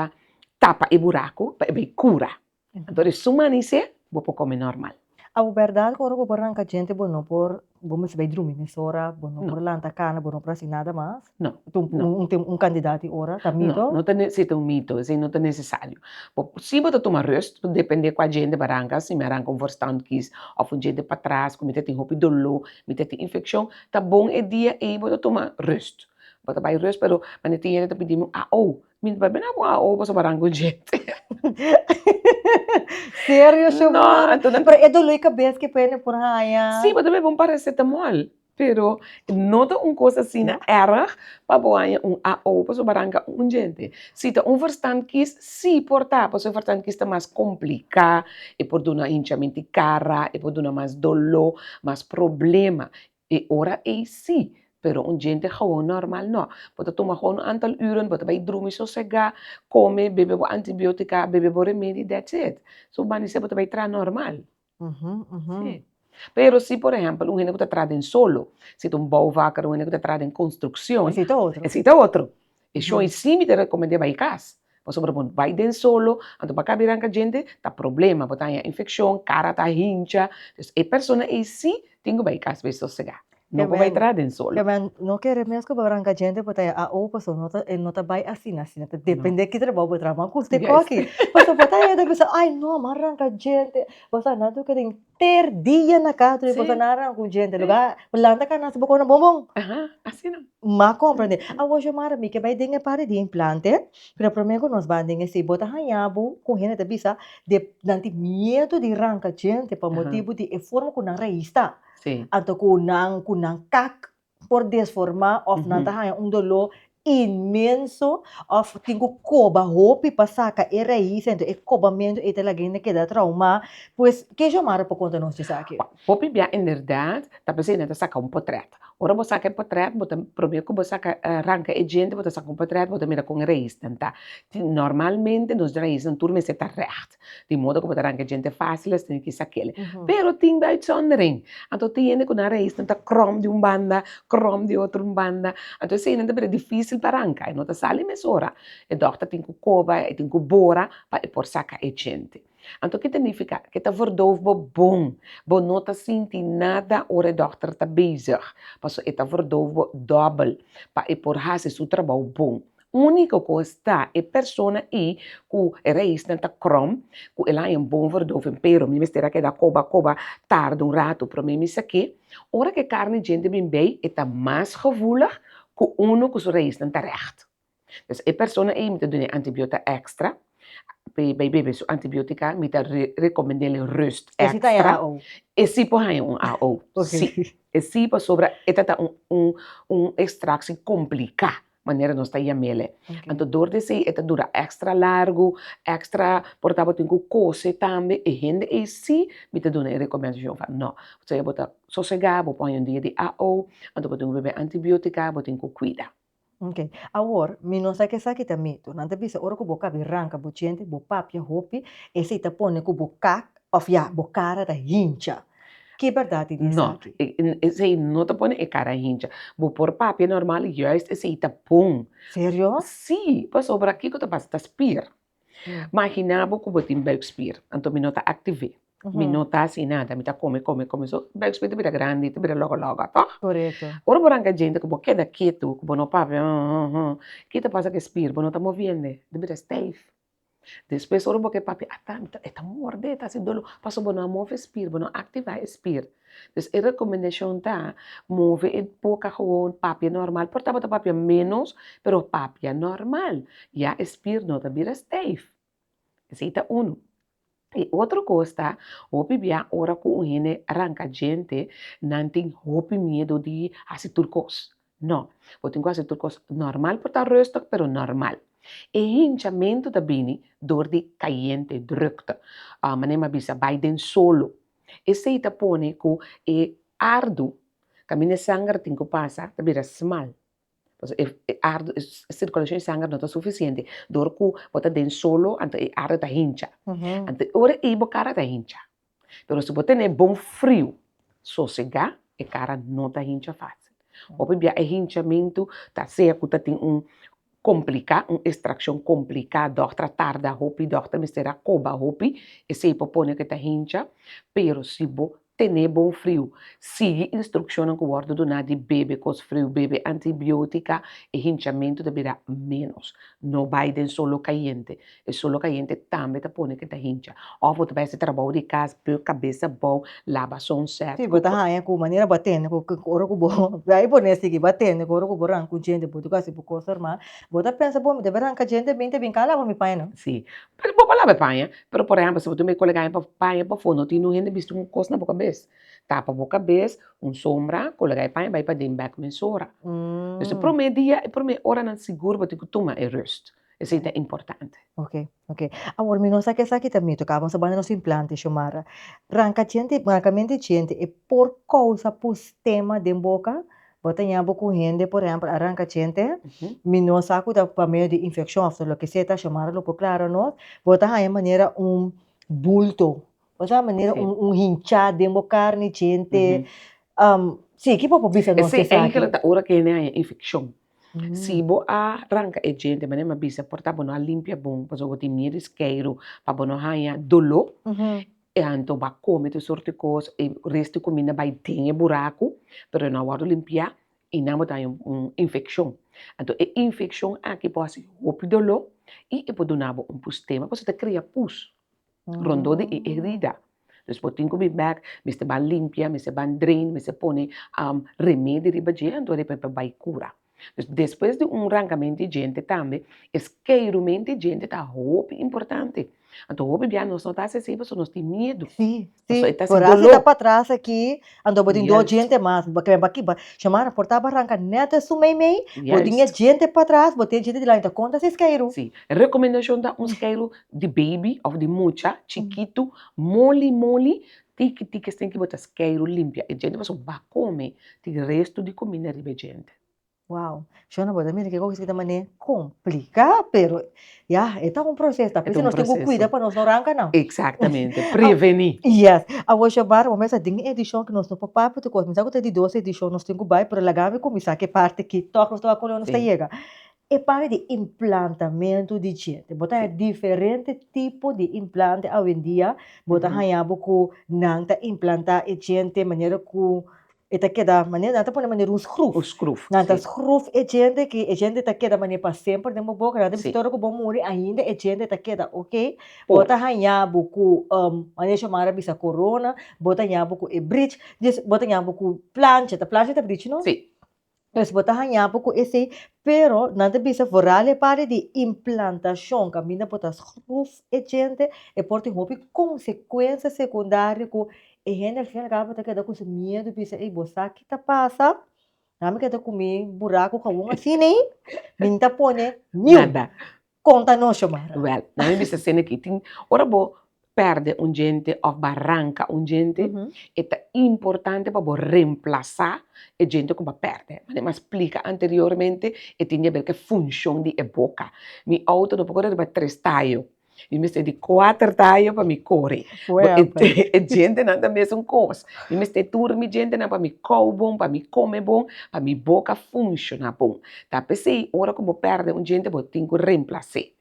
tapa e buraku pa e bai kura. Anto di su manisé bo por kome normal. Abo bèrdat ku ora bo por ranka djente bo no por bo misti bai drumi mesora, bo no por lanta kana, bo no por hasi nada mas? No, no. Un tem un kandidat di ora, ta mito? No, no ta ne si ta un mito, esei no ta nesesario. Bo si bo ta tuma rust ta dependé kua djente bo a ranka, si mi a ranka un vorstandkies òf un djente patras ku mi ta tin hopi doló, mi ta tin infekshon, ta bon e dia ei bo ta tuma rust. Bo ta bai rust pero manera tin yende ta pidimi un aou Mi papia no a pon aho pasobra a rango djente. Serio shomara? Pero e dolor di cabes que puede por haya. Sí, bo ta bebe un paracetamol, pero no ta un cosa asi na erg pa bo haya un aho pasobra a ranga un djente. Si ta un verstandkies, sí por ta, pasobra e verstandkies ta mas complica, e por duna hinchamento di cara, e por duna mas dolor, mas problema. E ora ei sí, pero un djente gewoon normal no. Bo ta tuma gewoon un antal uren, bo ta bai drumi sosegá, kome, bebe bo antibiótika, bebe bo remedi, that's it. So banda esei bo ta bai traha normal. Sí. Pero si por ehèmpel un hende ku ta traha den solo, si ta un bouwvakker, un hende ku ta traha den konstrukshon, esei ta otro. E shon i sí mi ta rekomend'é bai kas, pasobra bo bai den solo, anto bo a kabirá anka djente, ta problema, bo ta haña infekshon, kara ta hincha, dus e persona ei sí tin ku bai kas bai sosegá, no por bai traha den solo. Kèmen no kere mes ku bo bai anka djente bo ta haña AO pasobra no ta e no ta bai asina asina ta dependé ki trabou bo traha, man ku usted koki, pasobra bo ta haña ta bisa ai no a man ranka djente, bo sa nan tur ke den ter dia na cas di boso na rang cu djente lo bay planta canasta bo cona bon bon ma compra den awo xiomara mi ke bay den e parie di implante pero prome cu nos bay den esey bo ta haya bo cu hende ta bisa de nan tin miedo di ranca djente pa motibo di e forma cu nan raiz ta anto cu nan cu nan kak por desformá of nan ta haña un doló inmenso of tin ku koba hopi pa saka e raíz dentro e kobamentu ei ta laga hende keda traumá pues ke Xiomara por konta nos di esaki? Hopi bia inderdat ta pesei nan ta saka un potrèt ora bo saka e potrèt bo ta promé ku bo saka ranka e djente bo ta saka un potrèt bo ta mira kon e raíznan ta tin normalmente nos raíznan tur mester ta règt tin modo ku bo ta ranke e djente fásil esnan tin ki sa kele pero tin de uitzondering anto tin hende ku nan reisnan ta kròm di un banda kròm di otro banda anto eseinan ta bira difísil pa ranka e no ta sali e mes ora e dòkter tin ku koba e tin ku bora pa e por saka e djente anto ki ta nifika ke ta vordof bo bon bo no ta sinti nada ora e dòkter ta bezig pasobra e ta vordof bo dòbel pa e por hasi su trabou bon Úniko kos ta, e persona i ku e reisnan ta kròm, ku e laña bon for dòf en pero mi mester a keda koba koba tarde un ratu promé mi sak'é. Ora ku e karni djente bin bei, e ta mas gevoelig ku unu ku su reisnan ta règt. Pues e persona ei mi ta dun'é antibiota èkstra, p'e bai bebe su antibiotica, mi ta rekomend'éle rust èkstra. E si ta haña AO? E si por haña un AO, si. E si pasobra e ta ta un un un ekstraksi kompliká. manera nos ta yam'ele. Anto dor di esei e ta dura èkstra largu, èkstra, por tabata bo tin ku kose tambe e hende ei si mi ta duna'e rekomènt Jehová? Nò. Pasobra bo ta sosegá, bo pon un dia di AO, anto bo tin ku bebe antibiótika, bo tin ku kuida. Ok, awor mi no sa ke esaki ta mitu. Nan ta bisa ora ku bo kabi ranka bo diente, bo papia hopi, esei ta pone ku bo kak Of ya, bo cara ta hincha. Ki berdad di di esaki? No, esei no ta pone e cara hincha. Bo por papia normal y juist esei ta bon. Serio? Sí, pasobra kico ta pasa? Ta spier. Magina bo cu bo tin buikspier, anto mi no ta activ'é. Mi no ta haci nada, mi ta come, come, come. So, buikspier ta bira grandi, ta bira logo, logo, tog? Corecto. Ora bo ranca djente cu bo keda ketu, cu bo no papia, hum, hum, hum, ki ta pasa cu e spier? Bo no ta moviend'é, ta bira stijf. Despues ora bo ke papia a ta e ta morde e ta hasi dolo paso bo no a move e spir bo no a aktiva e spir dus e rekomendashon ta move e boka gewoon papia normal por ta bo ta papia menos pero papia normal ya e spir no ta bira steif esei ta uno I otro kos ta, hopi bia ora ku un hende ranka djente, nan tin hopi miedu di hasi tur kos. No, bo tin ku hasi tur kos normal, por ta rustig pero normal. E hinchamentu ta bini dor di kayente, drukte. Manem a bisa, bai den solo. Esei ta pone ku e ardu, kaminda e sanger tin ku pasa, ta bira smal. Pasobra e e ardo e circulashon di sanger no ta suficiente dor ku bo ta den solo anto e ardo ta hincha, anto ora ei bo kara ta hincha, pero si bo tene bon friu sosega e kara no ta hincha fasil, bo por bia e hinchamentu ta sea ku ta tin un komplika un estrakshon komplika dòkter a tarda hopi dòkter mester a koba hopi esei por pone ke ta hincha pero si bo Tene bon friu. Sigui instrukshonnan ku wòrdu duná di bebe kos friu, bebe antibiótika, e hinchamentu ta bira ménos. No bai den solo kayente, e solo kayente tambe ta pone ku e ta hincha. Òf bo ta bai hasi trabou di kas, pui bo kabesa bou, laba son sèt. Si bo ta haña ku manera bo a tende ku ora ku bo bai por nel sigui, bo a tende ku ora ku bo ran ku djente bo tuk hasi bo kos normal, bo ta pensa, Bo, mi debe ran ka djente bin ta bin, kan laba mi paña nan? Sí, Pero bo palabra paña, pero por ehempel si bo tin un koleganan pa paña pa fondo tin un hende bisti un kos na bo kabes, tapa bo kabes un sombra kolega i paña bai paden bek mesora, dus e prome dia e prome oranan sigur bo tin ke tuma e rust, esei ta importante. Ok ok awor mi no sa ke esaki ta mito kaban sabana nos implante Xiomara ranka djente ranka mente djente e por kousa pus tema den boka Bo ta ña bo cu hende, por ehempel, a ranca chente, mi no sa cu ta pa medio di infeccion of ta lokeser, ta Xiomara lo por clara nos, bo ta haña manera un bulto, bo ta haña manera un hincha den bo carne chente, si, kico bo por bisa nos di esaki? Esaki ta ora cu hende a haña infeccion, si bo a ranca e djente manera mi a bisa por ta bo no a limpia bon, pasobra bo tin miedo di skeiro pa bo no haña dolo. E anto bo a kome tur sort di kos, e rest di kuminda bai den e buraku, pero e no a wòrdu limpiá i nan bo ta haña un infekshon. Anto e infekshon aki por hasi hopi doló i e por duna bo un pustema pasobra ta krea pus rondó di e herida. Dus bo tin ku bin bèk, mester ban limpia, mester ban drain, mester pone remedi riba dje anto e bai kura. Despues di un rankamentu di djente tambe es keidumentu di djente ta hopi importante. Anto hopi bia nos no ta hasi así pasobra nos tin miedu. Sí, sí, pasobra e ta sin doló. pa tras aki, anto bo tin dos Juist. djente mas, bo kere baki ba, Xiomara por ta bo a ranka nèt esun meimei, bo tin e Juist. djente pa tras, bo tin e djente dilanti, ta konta seis keidu. Sí, e rekomendashon ta un skeidu di beibi òf di mucha chikitu, moli moli, Tiki tiki es tin ki bota skeiru limpia e djente pasobra ba kome tin restu di kuminda riba e djente. Wow, shona bo ta mira ke kokies ki ta manera komplika pero ya e ta un proseso ta p'esei nos tin ku kuida pa nos no ranka nan. Eksaktamente, preveni. Yes, awor Xiomara bo mester den e edishon ke nos no por papia tu kos, mi sa ku ta di dos edishon nos tin ku bai pero laga mi kuminsá ku e parti ki tog nos tabata ku unde nos ta yega. E pare di implantamentu di djente, bo ta haña diferente tipo di implante awendia, bo ta haña bo ku nan ta implanta e djente manera ku e ta keda manera nan ta pone manera un skruf, Un skruf, si. Nan ta skruf e djente ke e djente ta keda manera pa semper den bo boka, nan ta bisti ora ku bo muri ainda e djente ta keda okey, bo ta haña bo ku manera Xiomara a bisa korona, bo ta haña bo ku e bridge, bo ta haña bo ku plancha, ta plancha ta bridge no? Si. Pues bo ta haña bo cu esey, pero nan ta bisa vooral e pare di implantacion, caminda bo ta schroef e djente, e por tin hopi consecuencia secundario cu e hende al fin y al cabo ta keda cu su miedo, bisa ey bo sa ki ta pasa, nan mi keda cu mi buraco gawon asiney, mi nta pone niun. Konta nos, Xiomara. Wèl, nan mi bisa sende akí tin, ora bo pèrdè un djente òf baranka un djente, e ta importante pa bo remplasá e djente ku bo a pèrdè. Mane mi a splika anteriormente, e tin diaber ku e funshon di e boka. Mi outo no por kore riba tres tayo, mi mester di kuater tayo pa mi kore. Fuerte! E djentenan ta mesun kos. Mi mester tur mi djentenan pa mi kou bon, pa mi kome bon, pa mi boka funshoná bon. Ta p'esei, ora ku bo pèrdè un djente bo tin ku remplas'é.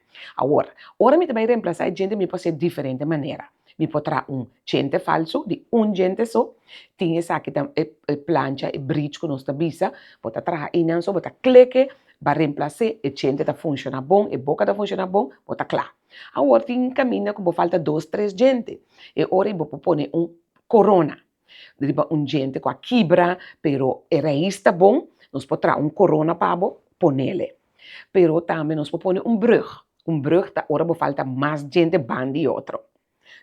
Awor, ora mi ta bai remplasá e djente mi por hasié diferente manera. Mi por traha un djente falsu di un djente so, tin esaki ta e plancha, e bridge ku nos ta bisa, bo ta traha einan so, bo ta kleke, ba remplas'é, e djente ta funshoná bon, e boka ta funshoná bon, bo ta kla. Awor tin kaminda ku bo falta dos tres djente, e ora ei bo por pone un korona. Riba un djente cu a kibra, pero e rais ta bon, nos por traha un corona pa bo, ponele. Pero tambe nos por pone un brug. Un brug ta ora bo falta mas djente ban di otro.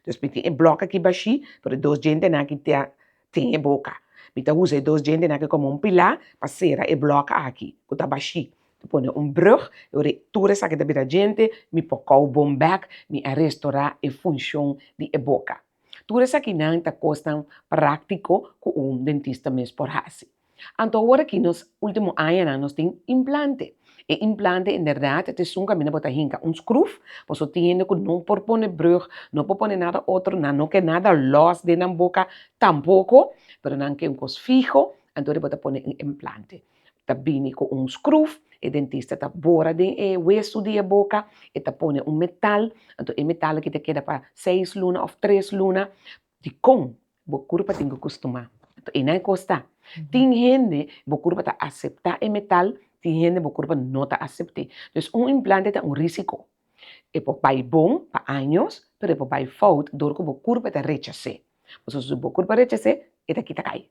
Dus mi tin e blok aki bashí, pero e dos djentenan aki ta tin e boca. Mi ta usa e dos djentenan aki como un pilá pa cera e blok aki, cu ta bashí. Mi pone un brug, y ora tur esaki ta bira djente, mi por cau bon bek, mi a restora e funcion di e boca. Tur esakinan ta kosnan práktiko ku un dentista mes por hasi. Anto ora ki nos último añanan nos tin implante. E implante en bèrdat ta esun kaminda bo ta hinka un skrùf, bo so tin hende ku no por pone brùg, no por pone nada otro, nan no ke nada lòs den nan boka tampoko, pero nan ke un kos fiho, anto ora bo ta pone un implante. ta bini ku un skruf, e dentista ta bora den e wesu di e boka, e ta pone un metal, anto e metal aki ta keda pa seis luna òf tres luna, dikon bo kurpa tin ku kustumá? Anto ei na e kos ta, tin hende bo kurpa ta aseptá e metal, tin hende bo kurpa no ta asept'é, dus un implante ta un risiko, e por bai bon pa años, pero e por bai fout dor ku bo kurpa ta rechas'é, pasobra si bo kurpa rechas'é e ta kita kai.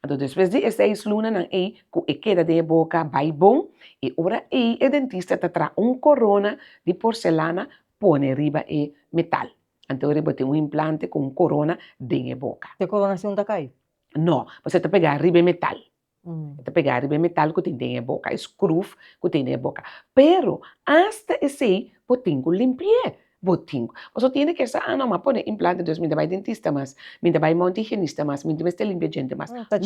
Anto despues di e seis lunanan ei ku e keda den e boka bai bon, e ora ei e dentista ta traha un korona di porselana pone riba e metal. Anto ora ei bo tin un implante ku un korona den e boka. E koronacion ta kai? No, pasobra e ta pegá riba e metal. E ta pegá riba e metal ku tin den e boka, e skruf ku tin den e boka. Pero asta esei bo tin ku limpi'é. Bo tin. Paso tiene que sa ano ma pone implante dus mi ta bai dentista mas, mi ta bai monte higienista mas, mi ta mester limpia djente mas. No, ta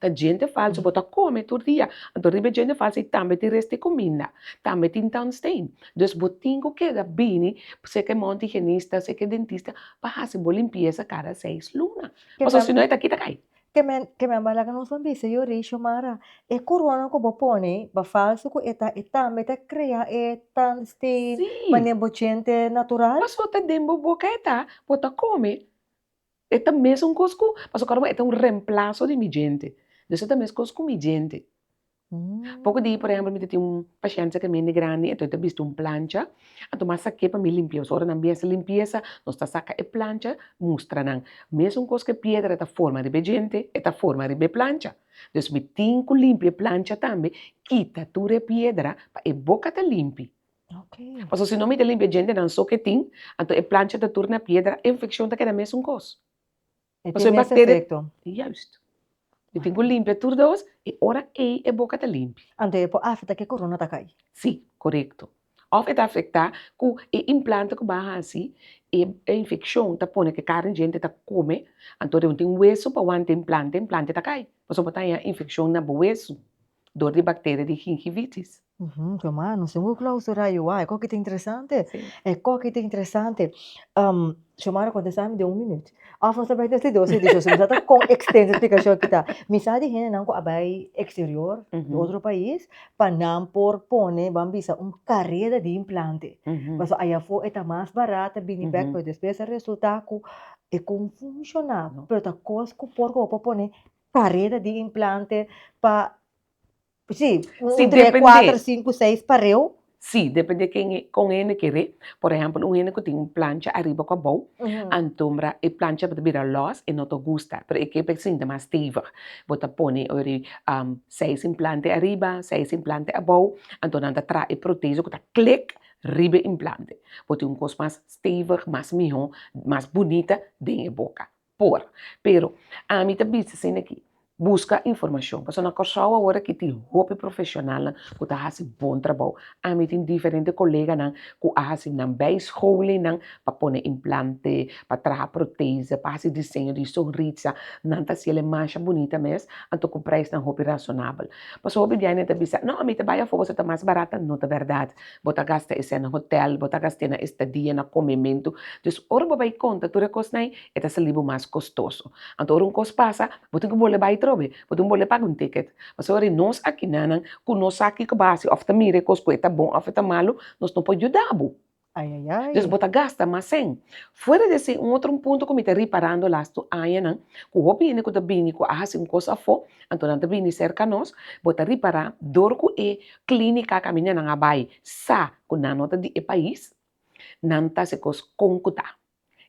djente falso, bo ta come tur dia, anto riba e djente falso ei tambe tin rest di cuminda, tambe tin tandstain, dus bo tin cu keda bini seke e monte higienista, seke e dentista pa haci bo limpieza cada seis luna, paso sino e ta kita cai. Keme keme a laga nos bisa yo rei Xiomara e corona cu bo pone ba falso cu e ta e tambe ta crea e tandsti manera bo djente natural. Paso ta den bo boca e ta bo ta come e ta mesun cos cu paso acorda bo e ta un remplaso di mi djente dus e ta mes cos cu mi djente. Poco di, por ehemplo, mi ta tin un pashente ke mende grandi, enton e ta bisti un plancha, a tuma sake pa mi limpia, so ora nan bies limpiesa, nos ta saka e plancha mustra nan, mesun kos ke piedra ta forma riba e djente, e ta forma riba e plancha, dus mi tin ku limpia e plancha tambe, kita tur e piedra pa e boka ta limpi, paso si no mi ta limpia e djentenan so ke tin, anto e plancha ta tur na piedra, e infekshon ta keda mesun kos. E tin mes efecto. Juist. Bo tin cu limpia tur dos y ora ey e boca ta limpi. Anto e por afecta cu e corona ta cay. Si, corecto. Of e ta afecta cu e implante cu ba haci e infeccion ta pone cu e carne djente ta come, anto den tin hueso pa wanta e implante, e implante ta cay. Pasobra bo ta haña infeccion na bo hueso. dor di bacteria di gingivitis. Uhum su hermano su hu clausura y wai koki ta interesante e koki ta interesante su hermano contesta mi den un minuut of nos ta bay den si dos ediciones so mi sa ta con extenso explicacion aki ta mi sa di hende nan cu a bay exterior di otro pais pa nan por pone ban bisa un careda di implante pasobra ayafo e ta mas barat ta bini bek pero despues ta resulta cu e con funciona pero ta cos cu por hopi pone Pareda di implante pa si un tre kuater sinku seis pareu? Si depende kon hende kere por ehempel un hende ku tin un plancha ariba ku abou antumbra e plancha bo ta bira lòs e no ta gusta pero e ke pa e sinti mas stevig bo ta pone ori seis implante ariba seis implante abou anto nan ta traha e protezo ku ta klik riba e implante bo tin un kos mas stevig mas mihó mas bunita den e boka. Por. Pero, ami ta bisa asin aki, buska informashon, pasobra na Kòrsou awor aki tin hopi profeshonalnan ku ta hasi bon trabou. Ami tin diferente koleganan ku a hasi nan bei schoulingnan pa pone implante, pa traha protese, pa hasi diseño di sonrisa, nan ta hasiel e masha bunita mes, anto ku preisnan hopi rasonabel. Pasobra hopi di aña nan ta bisa, no, mi ta bai afó, boso ta mas barat, ta no ta bèrdat. Bo ta gasta esei na hotèl, bo ta gast'é na estadia, na komementu. Dus ora bo bai konta tur e kosnan, e ta salí bo mas kostoso. Anto ora un kos pasa, bo tin ku bole bai atrobe, bo tin ku bole paga un tiket. Pasobra nos akinanan ku no sa kiko bo hasi òf ta mira e kos ku e ta bon òf e ta malu, nos no por yuda bo. Dus bo ta gasta mas sen. Fuera di esei, un otro un punto ku mi ta riparando las tu añanan, ku hopi hende ku ta bini ku a hasi un kos afó, anto nan ta bini serka nos, bo ta ripará dor ku e Clínica caminda nan a bay sa cu nan no ta di e pais, nan ta hace cos con cu ta.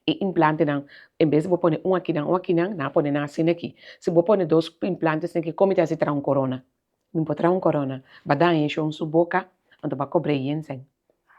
E implantenan, en vez di bo pone un akinan, un akinan, nan a pone nan asina aki. Si bo pone dos implantes na aki, como ta haci traha un corona? Bo no por traha un corona. Ba daña e shon su boca, anto bo a cobra e yenseng.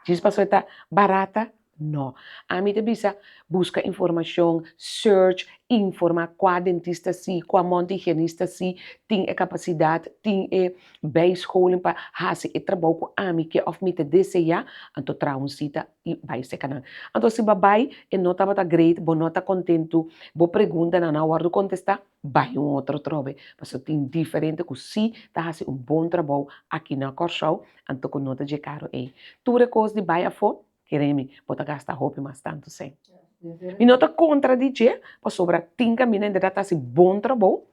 Djis pasobra ta barata? No. Ami ta bisa buska informashon, search, informa kua dentista si, kua monte higienista si tin e kapasidat, tin e bijscholing pa hasi e trabou ku ami ke òf mi ta deseá, anto traha un sita i bai seka nan. Anto si bo a bai e no tabata great, bo no ta kontentu, bo pregunta nan no a wòrdu kontestá, Bai un otro trobe pasobra tin diferente ku si ta hasi un bon trabou aki na Kòrsou anto ku no ta dje karu ei. Tur e kos di bai afó, keremi, bo ta gasta hopi mas tantu sèn. Mi no ta kontra di dje pasobra tin ka mi na en bèrdat ta hasi bon trabou,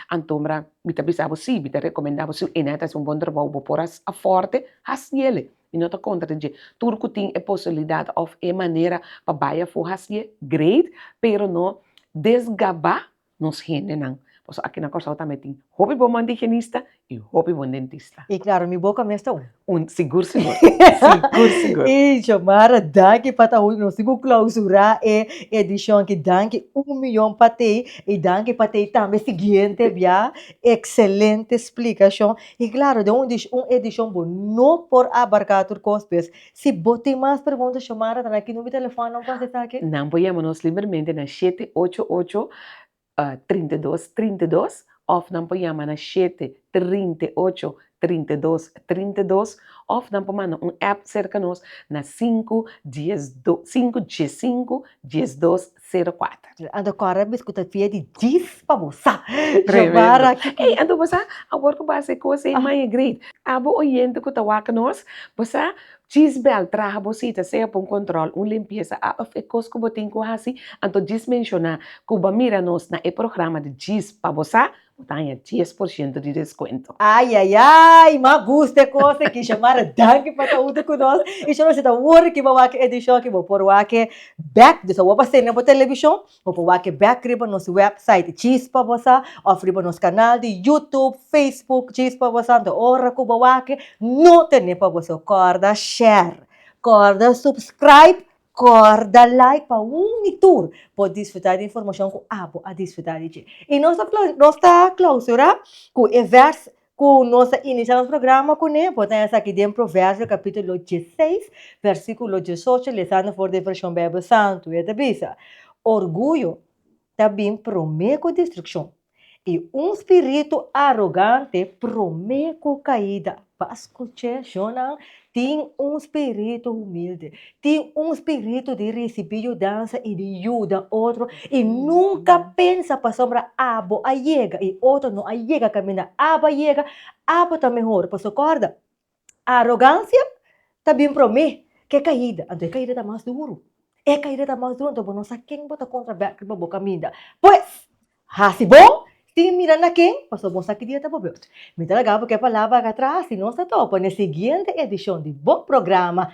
antombra mi ta bisa bo si, mi ta rekomendá bo si un ene a ta hasi un bon trabou bo por a fòrte, hasiele. I no ta kontra dje. Tur ku tin e posibilidat òf e manera pa bai afó hasié, greit, pero no desgabá nos hendenan. Pasobra aki na Kòrsou tambe tin hopi bon mandigenista i hopi bon dentista. I klaru, mi boka mes ta un. Un, sigur sigur. Sigur sigur. I Xiomara, danki pa ta un. Nos tin ku klausurá e edishon aki. Danki un miyon pa tei. I danki pa tei tambe siguiente bia. Ekselente splikashon. I klaru, den un un edishon bo no por abarká tur kos bes. Si bo tin mas pregunta, Xiomara ta na ki number di telefòn nan pas esaki? Nan por yama nos libermente na shete ocho ocho, trinta i dos, trinta i dos, òf nan por yama na shete, trinta i ocho, trinta i dos, trinta i dos, òf nan por manda un app serka nos na sinku, dies, do, sinku, dies sinku, dies dos, sero kuater. Ando kòrda mes ku ta fia di djis pa bo sa Xiomara. Ey ando bo sa awor ku bo a haci cos ey maya great a bo oyente ku ta wak nos bo sa djis bèl traha bo cita sea pa un control un limpieza a of e cos ku bo tin ku haci anto djis menciona ku bo a mira nos na e programa di djis pa bo sa Bo ta haña dies por shento di deskuento. Ayayay! M'a gusta e kos aki. Shamara, danki pa ta huntu ku nos. I shor bo si ta wòrdu ke bo a wak e edishon aki, bo por wak e bèk. Disa bo a bas'é na bo telebishon, bo por wak e bèk riba nos wèpsait djis pa bo sa òf riba nos kanal di YouTube, Facebook djis pa bo sa. Anto ora ku bo wak, no ten'é pa bo sa. Kòrda share, kòrda subscribe Cor, Da like pa un mi tur por disfruta di informacion cu abo a disfruta di dje. Y nos ta nos ta clausura cu e vers cu nos a inicia nos programa cu ne, bo ta haya esaki den Proverbio capitulo dieseis versiculo diesocho, lezando for di e version Bijbel Santu. E ta bisa, Orguyo ta bin promé ku destrukshon, i un spiritu arogante promé ku kaida. Pas kuché, shonnan, tin un spiritu humilde, tin un spiritu di risibí yudansa i di yuda otro, i nunka pensa pasobra abo a yega i otro no a yega kaminda. Abo a yega, abo ta mehor, pasobra kòrda, Arogansia ta bin promé k'e kaida, anto e kaida ta mas duru. E kaida ta mas duru, anto bo no sa ken bo ta kontra bèkri pa bo kaminda. Pues, hasi bon sin mira na ken, pasobra bo no sa ki dia ta bo bèrt. Mi ta laga bo k'e palabra akatras, si nos ta topa n'e siguiente edishon di bo programa,